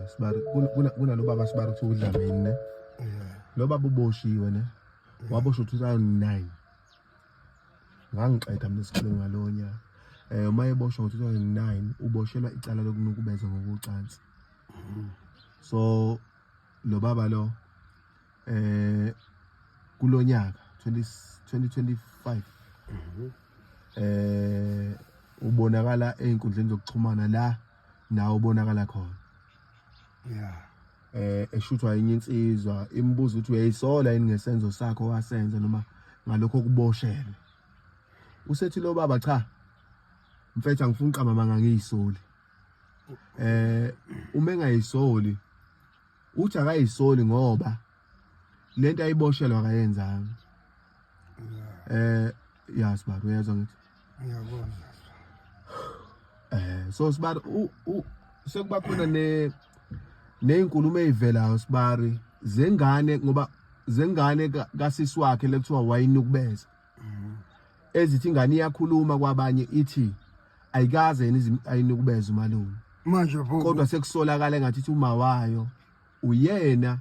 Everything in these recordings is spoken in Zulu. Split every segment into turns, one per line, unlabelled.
Sibari kunalo baba Sibari kuthiwa uDlamini ne. Lo baba uboshiwe ne. Waboshwa 2009. Ngangixeda mina isikhulu ngalonya. Eh uma eboshwa ngo-2009 uboshelwa icala lokunukubeza ngokucansi. So lo baba lo eh kulonyaka 2025 eh ubonakala einkundleni zokuxhumana la nawo ubonakala khona yeah eh eshuthwa enye insizwa imibuzo ukuthi uyayisola yini ngesenzo sakho wasenza noma ngalokho kuboshelwe usethi lo baba cha mfethu angifuni qama manga ngiyisoli eh uma engayisoli uthi akayisoli ngoba lento ayiboshelwa akayenzanga eh ya sibaba uyezwa ngithi
ngiyabona
eh so sibaba u sekuba khona ne nezinkulumo ezivelayo sibari zengane ngoba zengane kasisi wakhe lekuthiwa wayinukubeza mm-hmm. ezithi ingane iyakhuluma kwabanye ithi ayikaze yini ayinukubeza umalume manje kodwa
sekusolakala
ngathi uma wayo Uyena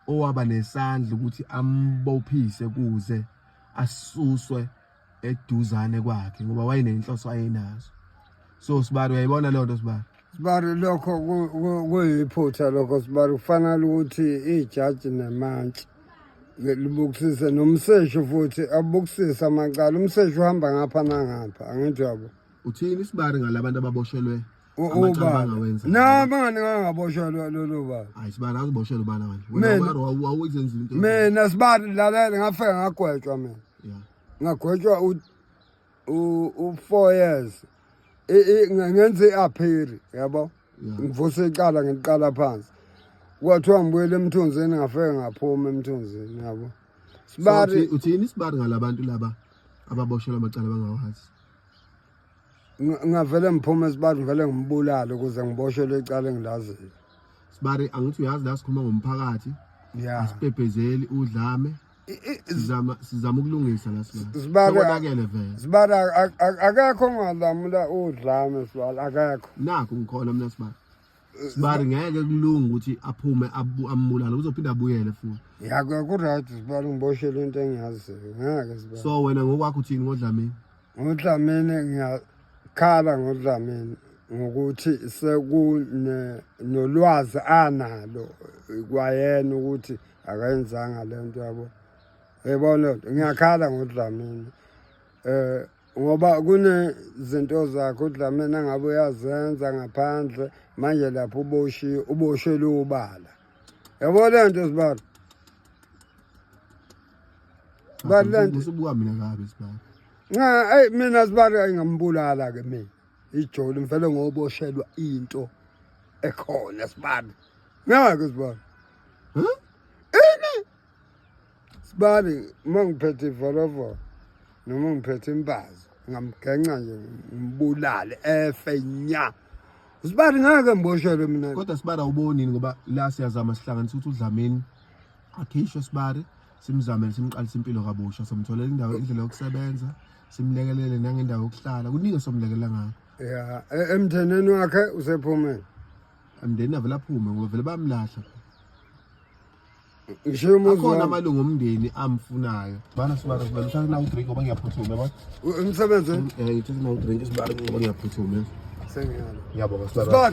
owaba nesandla ukuthi ambophise kuze asuswe eduzane kwakhe ngoba wayenenhloso ayenazo so sibari uyayibona leyo nto sibari sibari lokho
kuyiphutha lokho sibari kufanele ukuthi ijaji nemantshi libukisise nomseshi futhi abukisise amacala umseshi uhamba ngapha nangapha angithi yabo uthini isibari
ngalabantu ababoshelwe U-
Amacala ubaba bangawenza. na mani ngangaboshwa lo- lolo baba hayi sibani akuboshela ubala
manje Mina- wena ubala wawu- wawuyenzile into mina sibani
lalela ngafika ngagwetshwa mina Yeah. ngagwetshwa u- u- u-four years I- i- nge- ngenza i-aphiri yabo Yeah. ngivuse icala ngiliqala phansi kwathiwa ngibuyele emthunzini ngafike ngaphuma emthunzini yabo So, sibari uthi- uthini sibari
ngalabantu laba ababoshelwa amacala bangawahazi
ngavele ngiphume esibari ngivele ngimbulale ukuze ngiboshwe lecala engilaziyo sibari
angithi uyazi la sikhuluma ngomphakathi ya asibhebhezeli udlame sizama sizama ukulungisa la sibonakele vele
sibari akakho ngalamula udlame sibari akakho nakho ngikhona mina
sibari sibari ngeke kulunga ukuthi aphume ambulale uzophinde abuyele futhi yakho kuright
sibari ngiboshele into engiyaziyo ngeke sibari so wena ngokwakho uthini
ngodlamini ngodlamini
ngiyakhala ngodlamini ngokuthi sekunolwazi analo kwayena ukuthi akayenzanga le nto yabo yebona ngiyakhala ngodlamini um ngoba kunezinto zakhe udlameni angabe uyazenza ngaphandle manje lapho uboshiwe uboshelwe ubala yabo le nto sibalo sibalo le nto usubuka mina kabi
sibalo nca eyi mina
sibalo ayingambulala-ke mina ijoli ngifele ngoboshelwa into ekhona sibalo ngeke sibalo sibali uma ngiphethe ivolovolo noma ngiphethe imbazo ngamgenca nje ngimbulale efe nya sibali ngeke ngiboshelwe mina kodwa sibara ubonini
ngoba la siyazama sihlanganisa ukuthi udlamini akhishwe sibari simzamele simqalise impilo kabusha somtholela indawo indlela yokusebenza simlekelele nangendawo yokuhlala kuningi somlekelela ngakho ya e- emtheneni
wakhe usephumeni amndeni
avela phume ngoba vele bamlahla
akhona amalungu omndeni
amfunayo bana sibara sibara uthathe nawo drink ngoba ngiyaphuthuma yabo umsebenze um uthathe nawo drink sibara ngoba ngiyaphuthuma
sengiyalo
ngiyabonga sibara